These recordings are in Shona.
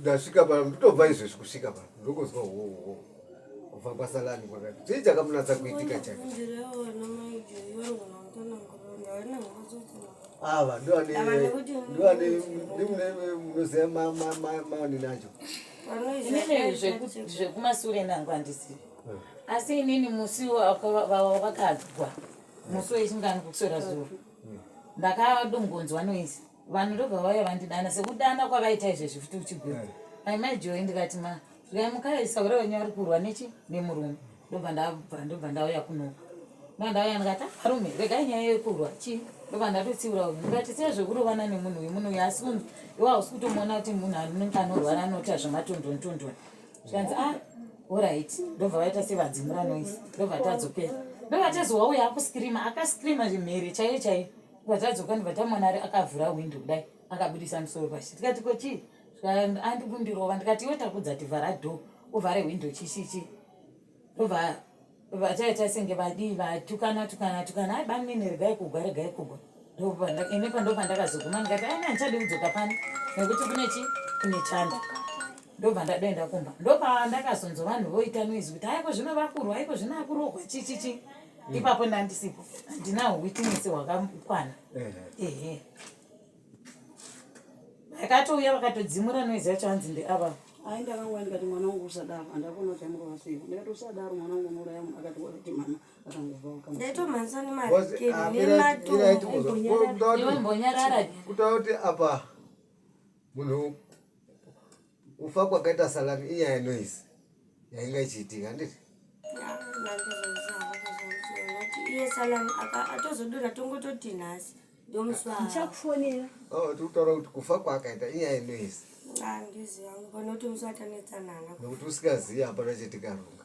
ndasvika pa nditobva izvezvi kusvika pa ndongonzwa hoho kubva kwasalani kwakati chii chakamunatsa kuitika chake ava ndoanendoanemunoziva maonini acho zvekumasure nangu andisivi hmm. asi inini musi vakadzwa musi wechingani kukusora zuro hmm. ndakadongonzwa noisi vanhu ndobva vauya vandidana sekudana kwavaita izvezvi futi uchigwira eh. maimai joyi ndikati ma zvai mukai saura wenyu ari kurwa nechi nemurume ndobva ndabva ndobva ndauya kunoka ndobva ndauya ndikati arume ah, regai nyaya yekurwa chii ndobva ndatotsiura uyu ndikati sei zvekurovana nemunhu uyu munhu uyu asi munhu iwa hausi kutomuona kuti munhu anonge anorwara anoita zvematondonitondoni zvikanzi a ah, orit ndobva vaita sevadzimura noise ndobva tadzokera ndobva tezowauya akuskirima akaskirima zvimhere chaiyo chaiyo Vatadzoka ndibva tamwana ari akavhura hwindo kudai akabudisa musoro pashi tikati ko chii andikundirova ndikati iwe takudza tivhara dho uvhare hwindo chishichi ndobva vachaita senge vadii vatukana tukana tukana ai bamene regai kugwa regai kugwa ini pandobva ndakazoguma ndikati ai handichadi kudzoka pano nekuti kune chi kune chanda ndobva ndadoenda kumba ndopaa ndakazonzwa vanhu voita noise kuti aiko zvino vakurwa aiko zvino akurogwa chichichi mm. ipapo ndandisipo ndinaho witness hwakakwana ehe vakatouya vakatodzimura noise yacho hanzi ndeava ai ndakangwa ndikati mwana wangu usadaro andakona kuti amurova sei ndikati usadaro mwana wangu unouraya munhu akati wakati mama akangovaukutakuti apa munhu Kufa kwakaita salami inyaya yenoise yainga ichiitika handiti? Iye salami atozodura tongototi nhasi ndomuswachakufonera oh, tikutaura kuti kufa kwakaita inyaya yenoise handiziva ngokuti musi watanetsanana nokuti usikazivi hapana chetikarunga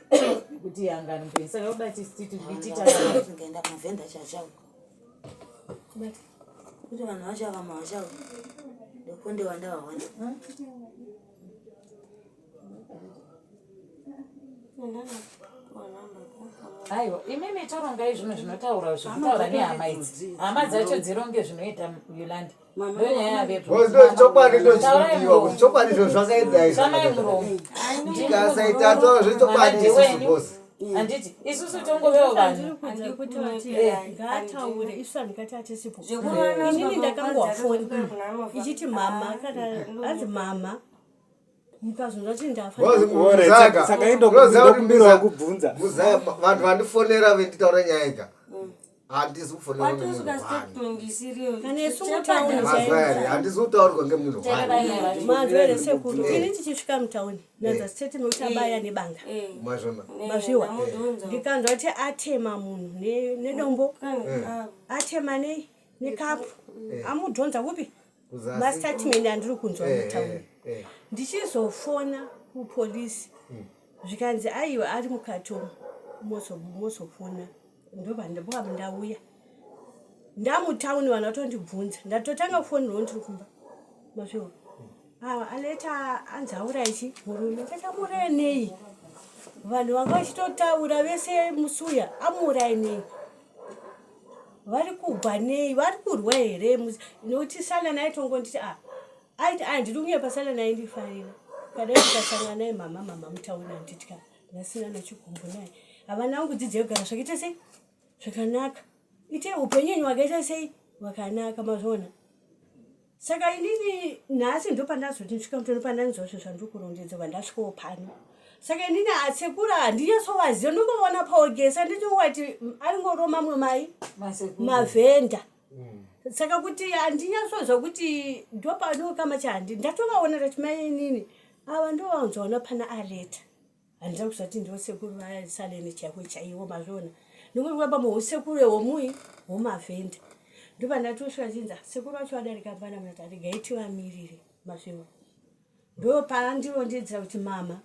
kuti hangani mpenyu saka yoda tisiti tikaenda kumavhenda chachao kuti vanhu vacho ava mavachao ndokunde wandavaona aiwa imimi torongai zvinhu zvinotaura zvekutaura nehama idzi hama dzacho dzironge zvinoita yolandi chokwadi ndochidiwa kuti chokwadi izvo zvakaedzai ndikasaita toro zvechokwadi isusu bosi handiti isusu tongovewo vanhuinini ndakangowafoni ichiti mama kana anzi mama vanhu vandifonera venditaura nyaya ika mm. handisi kutaurwa ngemunhu tichisvika mutauni nazastetemetabaya eh. nebanga eh. Eh. mazviwa ndikanzwa kuti atema munhu nedombo atema nei nekapu amudhonza kupi mastatement andiri kunzwa eh, mutauni eh, eh. ndichizofona kupolisi hmm. zvikanzi aiwa ari mukati umu mozofona ndovandauyandauya ndamutauni vanhu vatondibvunza ndatotanga kufonirwo ndiri kumba mazviwa hmm. awa aleta anzi aura ichi murume takamuuraya nei vanhu vanga vachitotaura vese musuya amuurai nei vari kubva nei vari kurwa here nokuti salani aitongonditi a ah, aiti andidi ah, kunyepa salani aindifarira padai ndikasangana naye mama mama mutaona anditya ndasina nachikumbo naye havana angu dzidzo yogara zvakaita sei zvakanaka ite upenyu enyu wakaita sei wakanaka mazvona saka inini nhasi ndopandazoti ndisvika mutoni pandanzwa zve zvandikurondedza vandasvikawo pano saka inini atsekura handinyasovaziva ndongovona paogesa ndinowati aringoro mamwe mai mavhenda mm. saka kuti handinyasozva kuti ndopano kama chandi ndatovaona tati mai inini ava ndovanzoona pana areta handida kuzvati ndivo sekuru vasaleni chaivo chaivo mazviona nekuti vaba muhusekuru ehomui homavhenda ndovandatosvika chinza sekuru vacho vadarika pana mnati aregai tivamirire mazviona ndo paandirondedzera kuti mama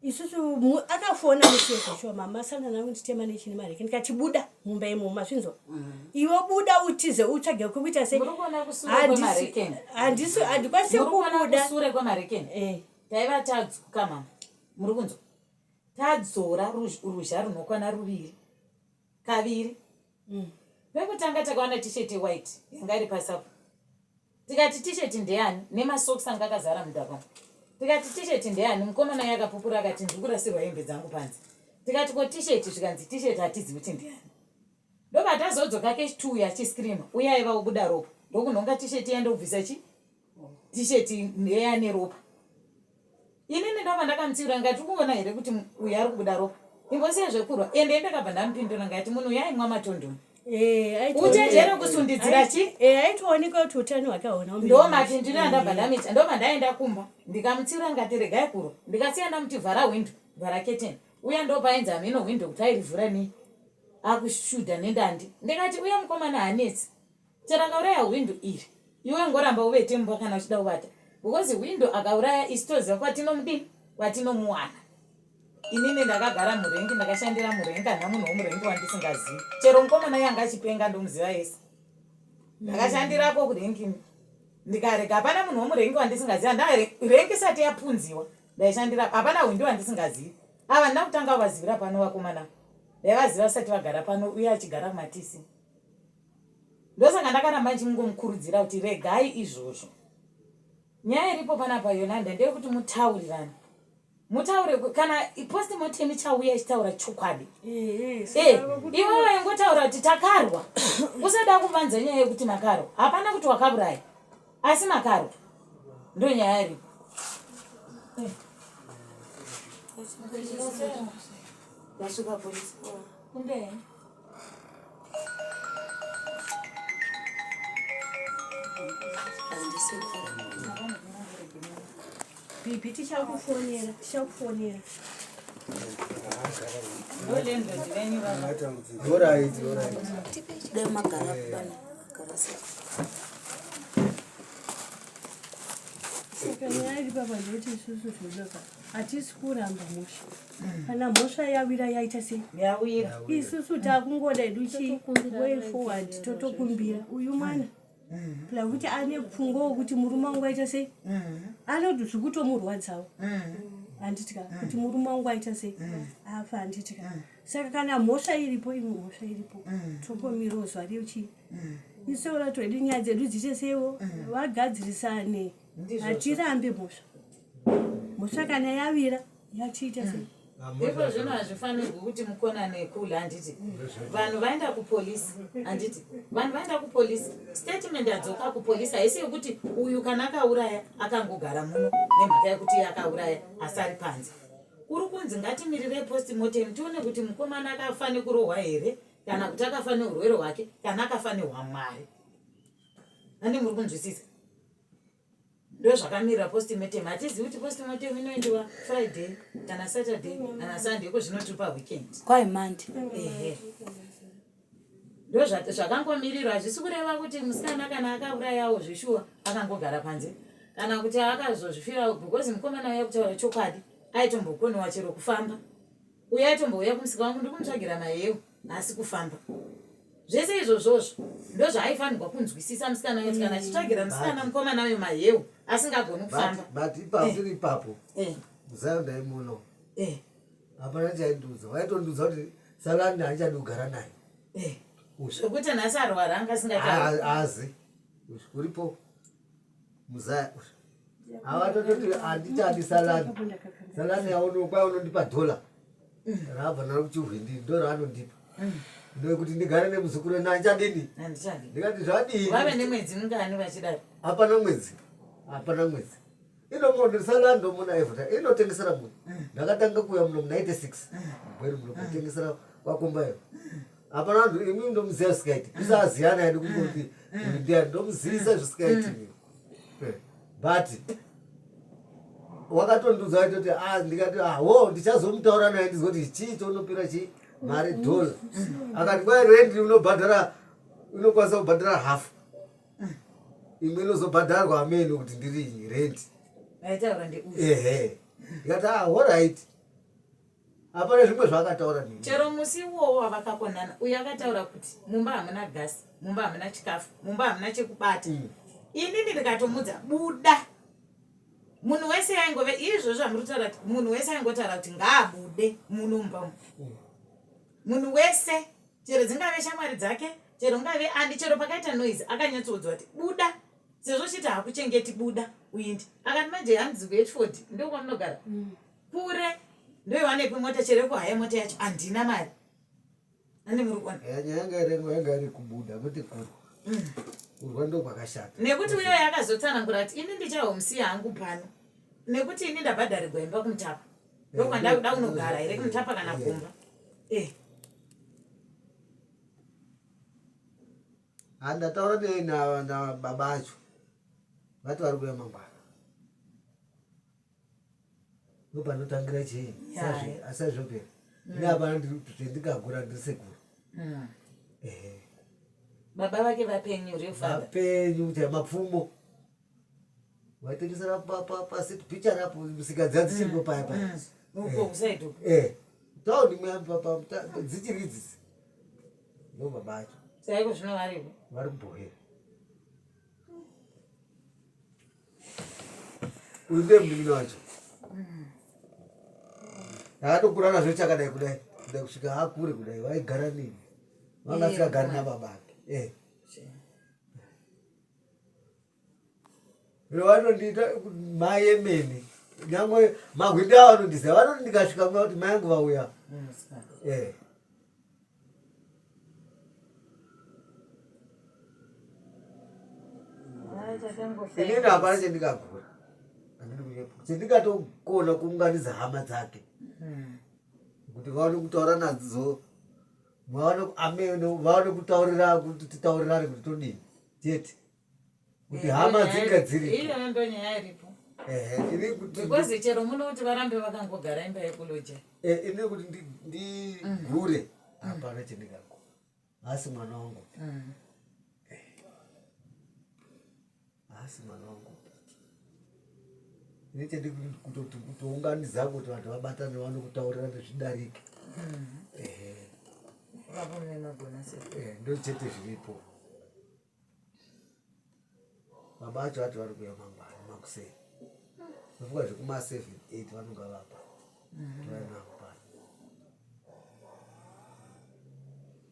isusu akafona museko shuwa mama asangana nangu nditema nechine mareke ndikati buda mumba imomo mazvinzwa mm. iwe buda utize utsvage kwekuita se handikwanise kubuda eh. taiva tadzoka mama muri kunzwa tadzora ruzha runokwana ruviri kaviri mm. pekutanga takaona tisheti white yanga iri pasapo tikati tisheti ndeyani nemasocks anga akazara mudhaka tikati tisheti ndeyani mukomana ye akapupura akati ndiri kurasirwa hembe dzangu panze tikati ko tisheti zvikanzi tisheti hatizivi kuti ndiyani ndobva tazodzoka kechi two yachiscreama uye aiva obuda ropa ndokunhonga tisheti yandobvisa chii t-shirt eya neropa ini ndinova ndakamutsiura ngati ukuona here kuti uyu ari kubuda ropa ingosiya zvekurwa ende ndakabva ndamupindura ngati munhu uyo aimwa matondoni eh, uchenjere kusundidzira chi eh, aitooneka kuti utano hwake hauna ndomati ndini andabva eh. ndamita ndobva ndaenda kumba ndikamutsiura ngati regai kurwa ndikasiya ndamuti vhara hwindo vhara keteni uya ndopaenzi hameno hwindo kuti airivhura nei akushuda nendandi ndikati uya mukomana hanetsi Chero akauraya hwindo iri iwe ngoramba uvete mumba kana uchida kuvata because hwindo akauraya isu toziva kwatinomudini kwatinomuwana inini ndakagara murengi ndakashandira murengi kana munhu womurengi wandisingazivi chero mukomana yanga achipenga ndomuziva yese ndakashandirako kurengini ndikarega hapana munhu womurengi wandisingaziva ndarengi isati yapunziwa ndaishandira hapana hwindi wandisingazivi ava ndina kutanga vazivira pano vakomana ndaivaziva vasati vagara pano uye achigara kumatisi ndosaka ndakaramba ndichimungomukurudzira kuti regai izvozvo nyaya iripo panapa yolanda ndeyekuti mutaurirane mutaure kana postmortem ichauya ichitaura chokwadi eh, iwe vaingotaura kuti takarwa usada kuvanza nyaya yekuti makarwa hapana kuti wakauraya asi makarwa ndo nyaya iripo Nashuka polisi. Kumbe. Bibi tichakufonera tichakufonera dai magara kubana Saka nyaya iri papa ndoti isusu zvodoka hatisi kuramba musha kana mhosva yawira yaita sei yawira isusu takungoda hedu chiway forward totokumbira uyu mwana pla kuti ane pfungwa wokuti murume wangu aita sei anoti zvikutomurwadzawo handitika kuti murume wangu aita sei afa handitika saka kana mhosva iripo imwe mhosva iripo tokomirawo zuva riyo chii isu olato hedu nyaya dzedu dziite seiwo vagadzirisane hatirambe mhosva mhosva kana yawira yachiita sei iko zvino hazvifanirwi kuti mukonane kule handiti vanhu vaenda kupolisi handiti vanhu vaenda kupolisi statement adzoka kupolisi haisi yekuti uyu kana akauraya akangogara muno nemhaka yekuti iye akauraya asari panze kuri kunzi ngatimirire postmortem tione kuti mukomana akafa nekurohwa here kana kuti akafa neurwere hwake kana akafa nehwamwari ane muri kunzwisisa ndozvakamira postmortem hatizivi kuti postmortem inoendiwa friday kana saturday kana sunday iko zvino tiri paweekend kwai monday ehe ndozvakangomirirwa hazvisi kureva kuti musikana kana akaurayawo zveshuwa akangogara panze kana kuti akazozvifirawo because mukomana uya kutaura chokwadi aitombokonewa chero kufamba uye aitombouya kumusika wangu ndiri kumutsvagira mayewo nhasi kufamba zvese izvozvozvo ndozvaaifanirwa kunzwisisa musikana yoti kana achitsvagira musikana mukomana uyo maheu asingagoni kufamba but ipapo tiri eh. ipapo eh. musayo ndaimuno eh. hapana chaindiudza waitondiudza kuti salani haichadi kugara naye zvekuti nhasi arwara anga asingaazi uripo muzaya ava tototi handitadi salani salani yaonokwa unondipa dhola raabva naro kuchihwindi ndo raanondipa ndokuti ndigare nemuzukuru ena andichandini ndikati zvadii vave nemwedzi mingani vachidaro hapana mwedzi hapana mwedzi inomuonesa lando muna evota inotengesera munhu ndakatanga kuuya muno munaite six mugweri muno kutengesera kwakombayo hapana vanhu imi ndomuziva zvisikaiti isaziyana yadi kungoti ndia ndomuziisa zvisikaiti eh, but wakatondiudza waiti kuti ah, ndikati aho ah, ndichazomutaura naye ndizwa kuti chii chounopira chii mari dollar akati kwai rendi unobhadhara unokwanisa kubhadhara half imwe inozobhadharwa amene kuti ndiri rent ehe ndikati ah, horit hapana zvimwe zvaakataura nini chero musi iwowo wavakakonana uyo akataura kuti mumba hamuna gasi mumba hamuna chikafu mumba hamuna chekubata mm. inini ndikatomudza buda munhu wese yaingove izvo zvamuri kutaura kuti munhu wese aingotaura kuti ngaabude muno mumba umu mm. munhu wese chero dzingave shamwari dzake chero ungave ani chero pakaita noise akanyatsoudzwa kuti buda sezvo uchiti hakuchengeti buda uindi akati manje hanzi kuhetford ndo kwamunogara mm. kure ndoiwanepi mota chero yekuhaya mota yacho handina mari ane muri kuona eh, nyaya yanga irengwa yanga iri kubuda kuti kuru mm. kurwa ndo kwakashata nekuti uyo yakazotsanangura kuti ini ndichahomusiya hangu pano nekuti ini ndabhadharirwa imba kumutapa ndokwandauda unogara here kumutapa kana kumba eh. handataura nei nababa acho vati vari kuya mangwana ndopanotangira chii asazvopera mm. neapana zvendikagura ndiri sekuru mm. baba vake vapenyu revapenyu chai mapfumo vaitengesera pasi pichari apo musika dziya dzichiripo paya paya taundi dzichiri idzisi ndo baba acho saiko zvino varipo vari kubhohera uyu ndiye munin'ina wacho akatokura nazvo chakadai kudai kudai kusvika akure kudai vaigara nini vanga asikagari nababa ake eh. vanondiita mai emene nyangwe mahwindi avo anondiziva vanoti ndikasvika kuna kuti mai angu vauya eh. inini hapana chendikagura chendikatogona kuunganidza hama dzake hmm. kuti vaone kutaura nadzo vaone kutaurira kuti titaurirane kuti todii chete kuti eh, hama dzinga dziripo iyoyo ndo nyaya iripo because chero muno kuti varambe vakangogara imba yekuloja eh, ini kuti ndigure mm. hapana mm. chendingako asi mwana wangu mm. eh, asi mwana wangu nechedi kutoti kutounganidza kuti vanhu vabatane vano kutaurira nezvidarike ndochete zviripo baba acho vati vari kuya mangwana makuseni ndofunga zvekuma seven eight vanonga vapa tovainavo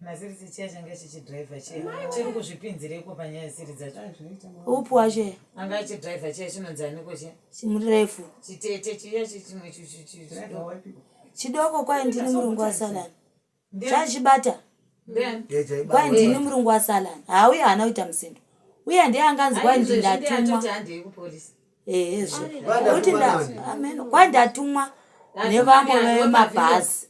Masirisi chiya changa chichidriver chiya chiri kuzvipinzireiko panyaya siri dzacho upi wacho anga achidriver chiya chinonzi aniko chiya chimurefu chitete chiya chichimwe chidoko kwaye ndini murungu wasalani zvachibata kwaye ndini murungu wasalani hauye haana kuita musindo uye ndiye anganzi kwaye ndindatumwa ehezvo kuti amen kwandatumwa nevamwe vemabhazi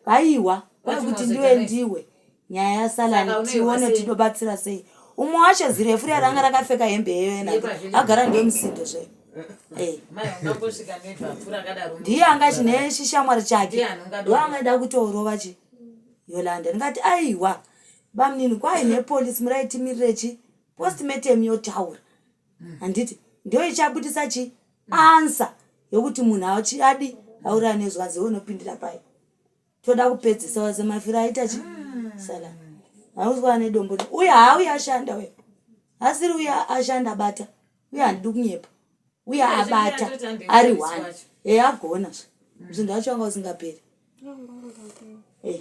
ehehaiwa kwai kuti ndiwe ndiwe nyaya yasalani tione tinobatsira sei umwe wacho zirefu riya ranga rakapfeka hembe yeyena agara ndiwe musindo zve eh. ndiye anga chine chishamwari chake ndoanga ida kutoorova chi yolanda ndingati aiwa bamunini kwai nepolisi muraitimirechi postmatem yotaura handiti ndiyo ichabudisa chi ansa yokuti munhu achi- adi auraya nezwanzi iwe unopindira pai toda kupedzisa waze mafiro aita chi sala hauzwa ane dombo ne- uye haauye ashanda uye asiri uye ashanda abata uye handidi kunyepa uye Uye zvimwe abata atoti ari andoifarisi one wacho. e agona zve zvinhu zvacho anga usingaperi Eh,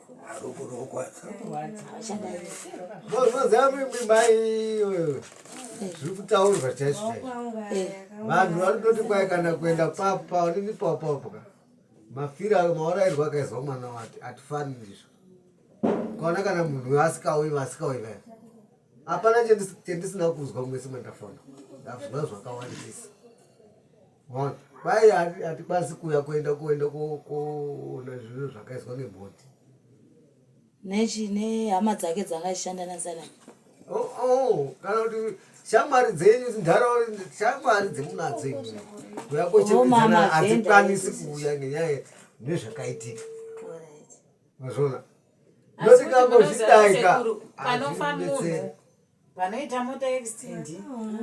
zviri kutaurwa chaizvo vanhu vanototi kwai kana kuenda papa onini papapka mafiro ayo maorairwa akaizwa mwana wati atifani ndizvo kaona kana munhu uyo asikauyi vasikauyi vaya hapana chendisina kuzwa mwese mandafona ndazvinga zvakawandisa Mai hatikwanisi kuya kuenda kuenda koona zvinhu zvakaiswa neboti. Nechi nehama dzake dzanga achishanda nasana. Oh oh kana kuti shamwari dzenyu ndharawo shamwari dzemunadzo imwe. Kuya kochemedzana hatikwanisi kuya ngenyaya nezvakaitika. Mazvona. Ndotikangozvidaika. Panofa munhu. vanoita mota extend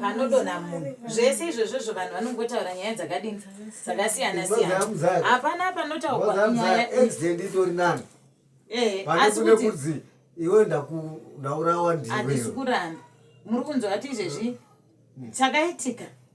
panodonha munhu zvese izvozvozvo vanhu vanongotaura nyaya dzakadini dzakasiyana siyana hapana panotaurwa nyaya extend itori nani eh, asi kuti iwe ndaurawa ndiwe handisi kuramba muri kunzwa kuti izvezvi chakaitika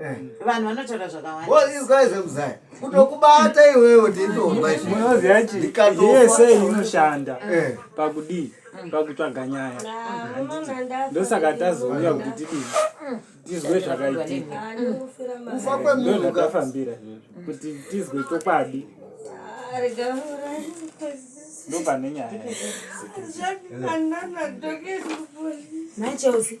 Eh. vanhu vanotaura zvakawandaizai kutokubata iwewe ndindoaozi yachi yese inoshanda eh. pakudii pakutsvaga nyaya ndosaka tazouya kuti tidii tizwe zvakaitika ndozvatafambira kuti tizwe chokwadi ndopane nyaya naicheusi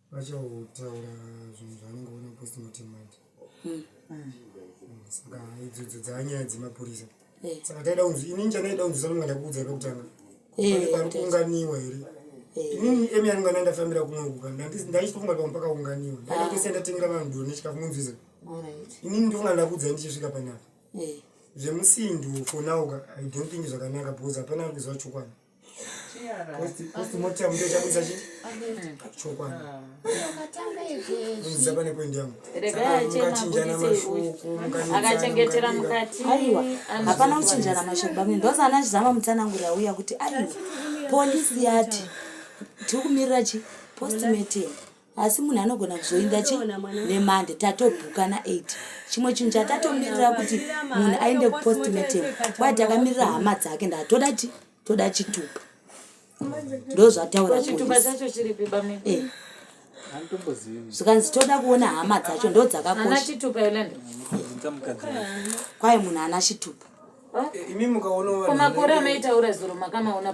vachautaura zvinhu zvavanenge vona postmortem manje hmm. hmm, saka idzodzo dzaanyaya dzemapurisa eh. saka taida kunzi ini ndichanaida kunzwisa nonga ndakuudza pekutanga eh, pari kuunganiwa here eh. inini emi yanonga nandafambira kumwe kuka ndaichitofunga pamwe pakaunganiwa ndaitose ah. ndatengera vanhu doro nechikafu munzwiza inini ndofunga ndakuudza ndichisvika panapa zvemusindu fonauka i don't think zvakanaka because hapana ari kuziva chokwadi akachengetera mukati hapana kuchinjana mashoko bamwe ndozana chizama mutsananguri auya kuti aiwa polisi yati tiri kumirira chi postmatem asi munhu anogona kuzoinda chi nemande tatobhuka na8 chimwe chinhu chatatomirira kuti munhu aende kupostmatem kwai takamirira hama dzake ndatoda ti toda chitupa ndozvataura eh. zvikanzi toda kuona hama dzacho ndo dzakakosha kwai munhu ana chitupa eh, imi mukaonamakore amaitaura zuro makamaona